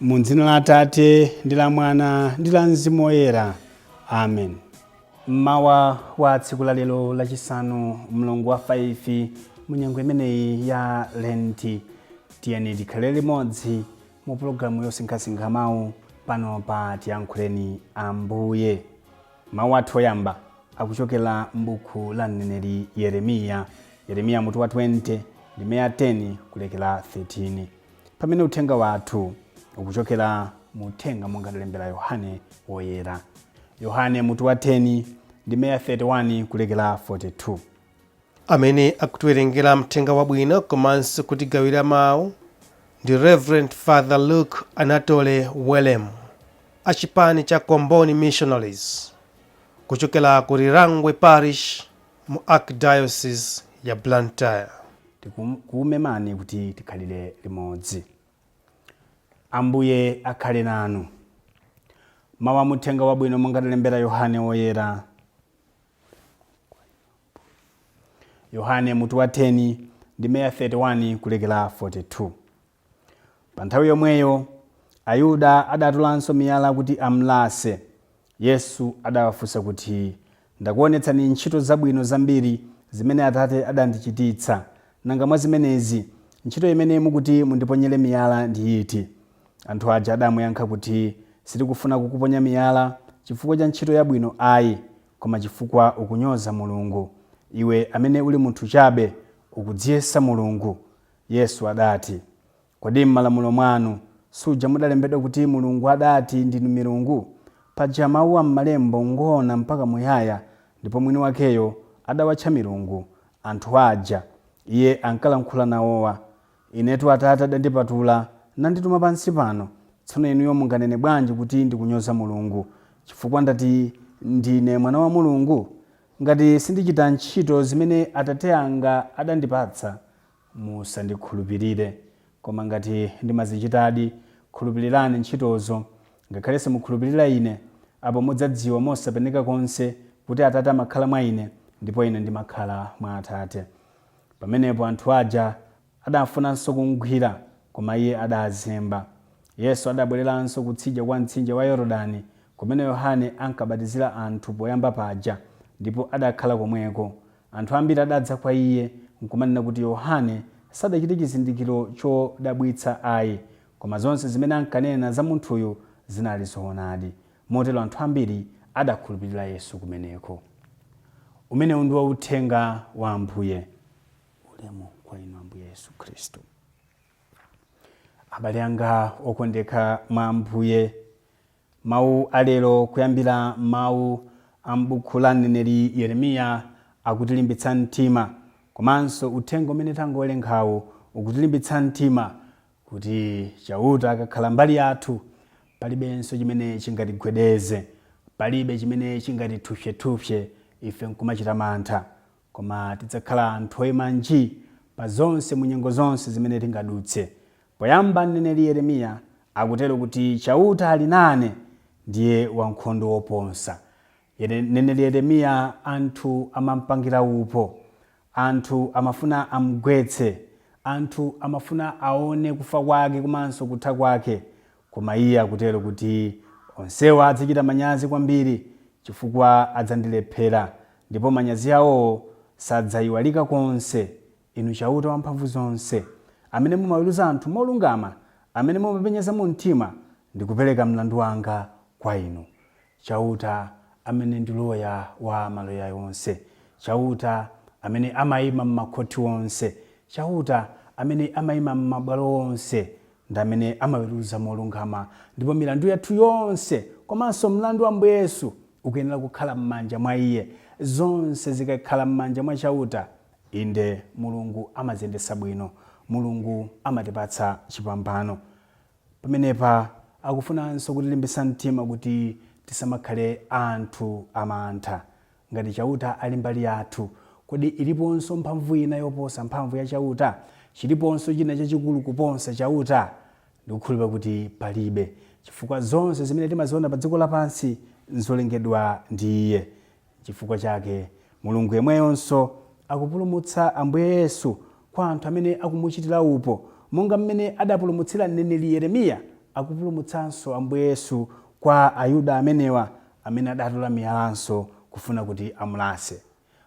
Mu dzina la Atate ndi la Mwana ndi la Mzimu Woyera. Amen. Mmawa wa tsiku la lero lachisanu mlungu wa 5 mu nyengo imeneyi ya Lenti, tiyeni tikhale limodzi mu pologalamu yosinkhasinkha mawu pano pa Tiyankhuleni Ambuye. Mawu athu oyamba akuchokera m'buku la mneneri Yeremiya, Yeremiya mutu wa 20 ndime ya 10 kulekera 13. Pamene uthenga wathu ukuchokera mu uthenga monga adalembera Yohane Woyera. Yohane mutu wa 10 ndime ya 31 kulekera 42. Amene akutiwerengera Mthenga Wabwino komanso kutigawira mawu ndi Reverend Father Luke Anatole Welemu a chipani cha Comboni Missionaries kuchokera ku Lirangwe Parish mu Archdiocese ya Blantyre. Tikukumemani kuti tikhalire limodzi. Ambuye akhale nanu. Mau a m'Uthenga Wabwino monga adalembera Yohane Woyera. Yohane, mutu wa 10, ndime ya 31 kulekera 42. Pa nthawi yomweyo, Ayuda adatolanso miyala kuti amlase. Yesu adawafunsa kuti, Ndakuwonetsani ntchito zabwino zambiri zimene Atate adandichititsa. Nanga mwa zimenezi, ntchito imene mukuti mundiponyere miyala ndi iti? Anthu aja adamuyankha kuti, Sitikufuna kukuponya miyala chifukwa cha ntchito yabwino ai, koma chifukwa ukunyoza Mulungu. Iwe amene uli munthu chabe, ukudziyesa Mulungu. Yesu adati, Kodi m'Malamulo mwanu suja mudalembedwa kuti Mulungu adati, Ndinu milungu? Paja mau a m'Malembo ngoona mpaka muyaya, ndipo mwini wakeyo adawatcha milungu, anthu aja Iye ankalankhula nawowa. Inetu Atate adandipatula, nandituma pansi pano. Tsono inuyo munganene bwanji kuti ndikunyoza Mulungu, chifukwa ndati ndine Mwana wa Mulungu? Ngati sindichita ntchito zimene Atate anga adandipatsa, Musandikhulupirire, koma ngati ndimazichitadi, khulupilirani ntchitozo. Ngakhale simukhulupilira Ine, apo mudzadziwa mosapeneka konse kuti Atate amakhala mwa Ine, ndipo Ine ndimakhala mwa Atate. Pamenepo anthu aja adafunanso kumgwira, koma Iye adazemba. Yesu adabwereranso kutsija kwa mtsinje wa Yorodani, kumene Yohane ankabatizira anthu poyamba paja, ndipo adakhala komweko. Anthu ambiri adadza kwa Iye, nkumanena kuti, Yohane sadachite chizindikiro chodabwitsa ai, koma zonse zimene ankanena za munthuyu zinali zoonadi. Motero anthu ambiri adakhulupirira Yesu kumeneko. Umenewu ndiwo Uthenga wa Ambuye. Ulemu kwa Inu Ambuye Yesu Khristu. Abale anga okondeka mwa Ambuye. Mawu a lero kuyambira mawu a m'buku la mneneri Yeremiya akutilimbitsa mtima komanso uthenga umene tangowerengawu ukutilimbitsa mtima kuti Chauta akakhala mbali yathu, palibenso chimene chingatigwedeze. Palibe chimene chingatithupsyethupsye ife nkumachita mantha. Koma tidzakhala anthu oima nji pa zonse mu nyengo zonse zimene tingadutse. Poyamba mneneri Yeremiya akutero kuti Chauta ali nane, ndiye wankhondo woponsa. Yere, mneneri Yeremiya anthu amampangira upo. Anthu amafuna amgwetse. Anthu amafuna aone kufa kwake komanso kutha kwake. Koma iye akutero kuti, Onsewa adzachita manyazi kwambiri chifukwa adzandilephera, ndipo manyazi awowo sadzaiwalika konse. Inu Chauta Wamphamvuzonse, amene mumaweruza anthu molungama, amene mumapenyeza mu mtima, ndikupereka mlandu wanga kwa Inu. Chauta, amene ndi loya wa maloya onse, Chauta, amene amaima m'makhoti onse, Chauta, amene amaima m'mabwalo onse, ndi amene amaweruza molungama, ndipo milandu yathu yonse komanso mlandu wa Ambuye Yesu ukuyenera kukhala m'manja mwa Iye. Zonse zikakhala m'manja mwa Chauta, inde, Mulungu amaziyendetsa bwino. Mulungu amatipatsa chipambano. Pamenepa akufunanso kutilimbitsa mtima kuti tisamakhale anthu amantha. Ngati Chauta ali mbali yathu, kodi iliponso mphamvu ina yoposa mphamvu ya Chauta? Chiliponso china chachikulu kuposa Chauta? Ndikukhulupirira kuti palibe, chifukwa zonse zimene timaziwona pa dziko lapansi nzolengedwa ndi Iye. Chifukwa chake Mulungu yemweyonso akupulumutsa Ambuye Yesu kwa anthu amene akumuchitira upo, monga m'mene adapulumutsira mneneri Yeremiya, akupulumutsanso Ambuye Yesu kwa Ayuda amenewa amene adatola miyalanso kufuna kuti amulase.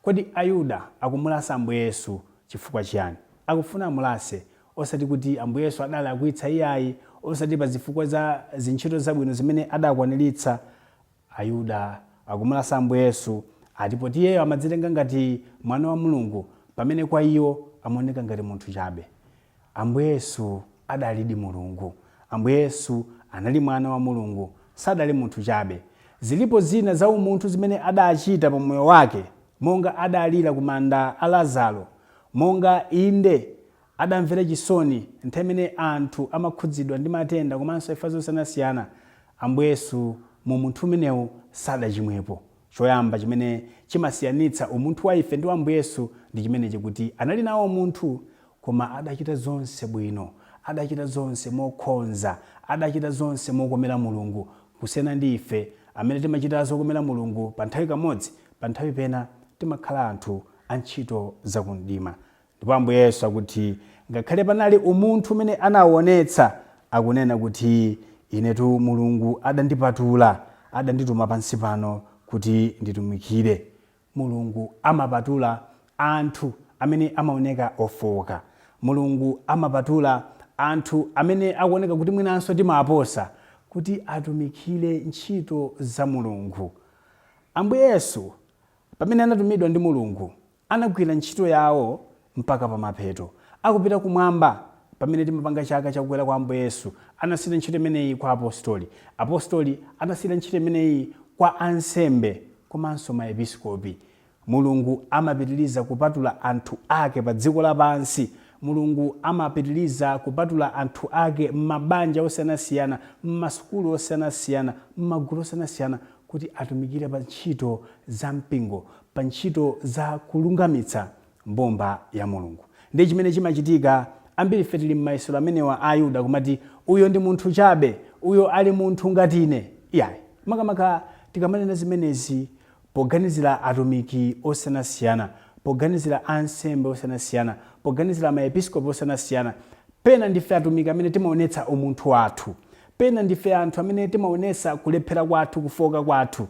Kodi Ayuda akumulasa Ambuye Yesu chifukwa chiyani? Akufuna amulase, osati kuti Ambuye Yesu adalakwitsa iyayi, osati pa zifukwa za zintchito zabwino zimene adakwaniritsa. Ayuda akumulasa Ambuye Yesu ati poti Iyeyo amadzitenga ngati Mwana wa Mulungu pamene kwa iwo amaoneka ngati munthu chabe. Ambuye Yesu adalidi Mulungu. Ambuye Yesu anali Mwana wa Mulungu, sadali munthu chabe. Zilipo zina za umunthu zimene adachita pa moyo wake, monga adalira ku manda a Lazaro, monga, inde, adamvera chisoni nthawi imene anthu amakhudzidwa ndi matenda komanso imfa zosiyanasiyana, Ambuye Yesu mu umunthu umenewu sadachimwepo. Choyamba chimene chimasiyanitsa umunthu wa ife ndi wa Ambuye Yesu ndi chimenechi kuti anali nawo umunthu koma adachita zonse bwino, adachita zonse mokhonza, adachita zonse mokomera Mulungu kusiyana ndi ife amene timachita zokomera Mulungu panthawi kamodzi, panthawi pena timakhala anthu antchito za kumdima. Ndipo Ambuye Yesu akuti, ngakhale panali umunthu umene anaonetsa, akunena kuti, Inetu Mulungu adandipatula, adandituma pansi pano kuti nditumikire. Mulungu amapatula anthu amene amaoneka ofooka. Mulungu amapatula anthu amene akuoneka kuti mwinanso timaposa, kuti atumikire ntchito za Mulungu. Ambuye Yesu, pamene anatumidwa ndi Mulungu, anagwira ntchito yawo mpaka pamapeto, akupita kumwamba pamene timapanga chaka cha kukwera kwa Ambuye Yesu, anasiyira ntchito imeneyi kwa Apostoli, Apostoli anasiyira ntchito imeneyi kwa Ansembe komanso ma Episkopi. Mulungu amapitiliza kupatula anthu ake pa dziko lapansi, Mulungu amapitiliza kupatula anthu ake m'mabanja osiyanasiyana, m'masukulu osiyanasiyana, m'magulu osiyanasiyana kuti atumikire pa ntchito za mpingo. pa ntchito za kulungamitsa mbumba ya Mulungu. Ndi chimene chimachitika, ambiri ife tili m'mayesero amenewa a Ayuda kumati, Uyo ndi munthu chabe, uyo ali munthu ngati ine. Iyayi. Makamaka tikamanena zimenezi poganizira atumiki osiyanasiyana, poganizira ansembe osiyanasiyana, poganizira maepiskopi osiyanasiyana, pena ndife atumiki amene timaonetsa umunthu wathu, pena ndife anthu amene timaonetsa kulephera kwathu, kufooka kwathu.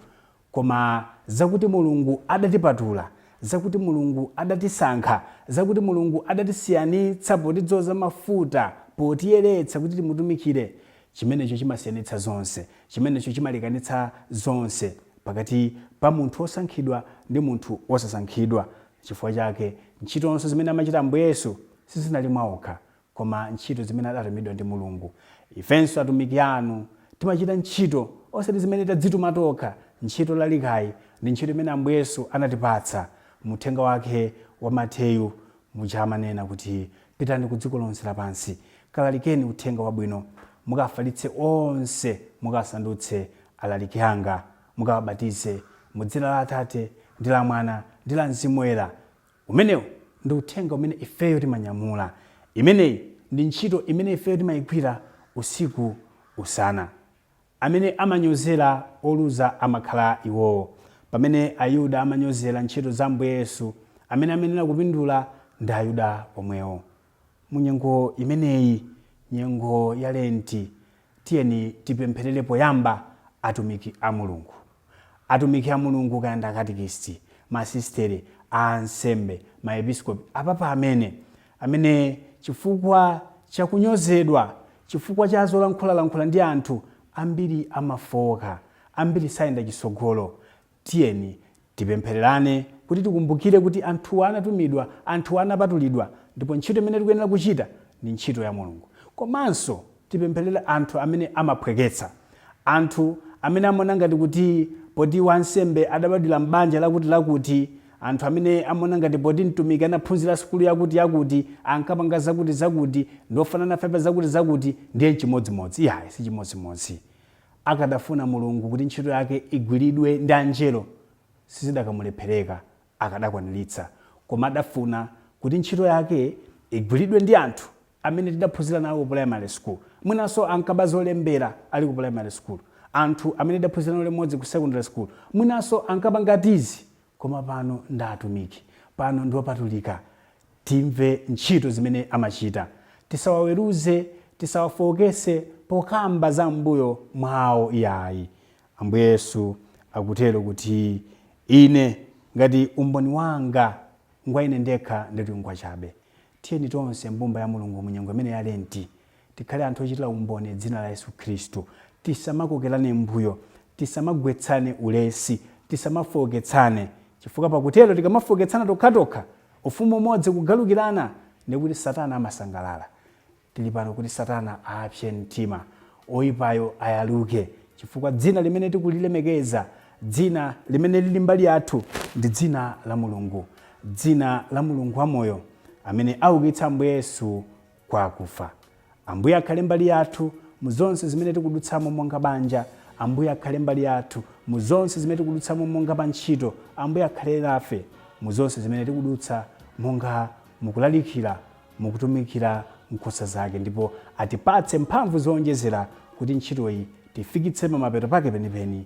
Koma zakuti Mulungu adatipatula, zakuti Mulungu adatisankha, zakuti Mulungu adatisiyanitsa potidzoza mafuta, potiyeretsa kuti timutumikire, chimenecho chimasiyanitsa zonse. Chimenecho chimalekanitsa zonse pakati pa munthu wosankhidwa ndi munthu wosasankhidwa. Chifukwa chake ntchitonso zimene amachita Ambuye Yesu sizinali mwaokha, koma ntchito zimene adatumidwa ndi Mulungu. Ifenso atumiki anu timachita ntchito osati zimene tadzituma tokha, ntchito yolalikayi ndi ntchito imene Ambuye Yesu anatipatsa mu uthenga wake wa Mateyu muja amanena kuti pitani ku dziko lonse lapansi, kalalikeni uthenga wabwino, mukafalitse onse, mukasandutse alaliki anga, mukawabatize mu dzina la Atate, ndi la Mwana, ndi la Mzimu Woyera. Umenewu ndi Uthenga umene ifeyo timanyamula. Imeneyi ndi ntchito imene ifeyo timaigwira usiku, usana. Amene amanyozera oluza amakhala iwowo. Pamene Ayuda amanyozera ntchito za Ambuye Yesu, amene amayenera kupindula ndi Ayuda omwewo. Mu nyengo imeneyi, nyengo ya Lenti, tiyeni tipempherere poyamba atumiki a Mulungu. Atumiki a Mulungu, kaya ndi akatekisiti, masisiteri, a ansembe, maepiskopi, apapa amene, amene chifukwa cha kunyozedwa, chifukwa cha zolankhula lankhula ndi anthu, ambiri amafooka, ambiri sayenda chitsogolo, Tiyeni tipemphererane kuti tikumbukire kuti anthuwa anatumidwa, anthuwa anapatulidwa ndipo ntchito imene tikuyenera kuchita ndi ntchito ya Mulungu. Komanso tipempherere anthu amene amaphweketsa, anthu amene amaona ngati kuti poti wansembe adabadwira m'banja lakutilakuti, anthu amene amaona ngati poti mtumiki anaphunzira sukulu yakutiyakuti, ankapanga zakutizakuti, ndi ofananafe pa zakutizakuti, ndiye n'chimodzimodzi. Iyayi, si chimodzimodzi. Akadafuna Mulungu kuti ntchito yake igwiridwe ndi Angelo sizidakamulephereka, akadakwaniritsa. Koma adafuna kuti ntchito yake igwiridwe ndi anthu amene tidaphunzira nawo ku primary school, mwinanso ankaba zolembera ali ku primary school, anthu amene tidaphunzira nawo limodzi ku secondary school, mwinanso ankaba ngati zii Koma pano ndi atumiki. Pano ndi opatulika. Timve ntchito zimene amachita. Tisawaweruze, tisawafooketse pokamba za m'mbuyo mwawo iyayi. Ambuye Yesu akutero kuti ine ngati umboni wanga ngwa ine ndekha ndiyetu ngwachabe. Tiyeni tonse mbumba ya Mulungu mu nyengo imeneyi ya Lenti. Tikhale anthu ochitira umboni dzina la Yesu Khristu. Tisamakokerane m'mbuyo. Tisamagwetsane ulesi. Tisamafooketsane. Chifukwa pakutero, tikamafooketsana tokhatokha, ufumu umodzi kugalukirana, ndiye kuti Satana amasangalala. Tili pano kuti Satana apse mtima. Oipayo ayaluke. Chifukwa dzina limene tikulilemekeza, dzina limene lili mbali yathu, ndi dzina la Mulungu. Dzina la Mulungu wamoyo, amene aukitsa Ambuye Yesu kwa akufa. Ambuye akhale mbali yathu mu zonse zimene tikudutsamo monga banja. Ambuye akhale mbali yathu mu zonse zimene tikudutsamo monga pa ntchito. Ambuye akhale nafe mu zonse zimene tikudutsa monga mukulalikira, mukutumikira nkhosa zake, ndipo atipatse mphamvu zowonjezera kuti ntchitoyi tifikitse pamapeto pake penipeni.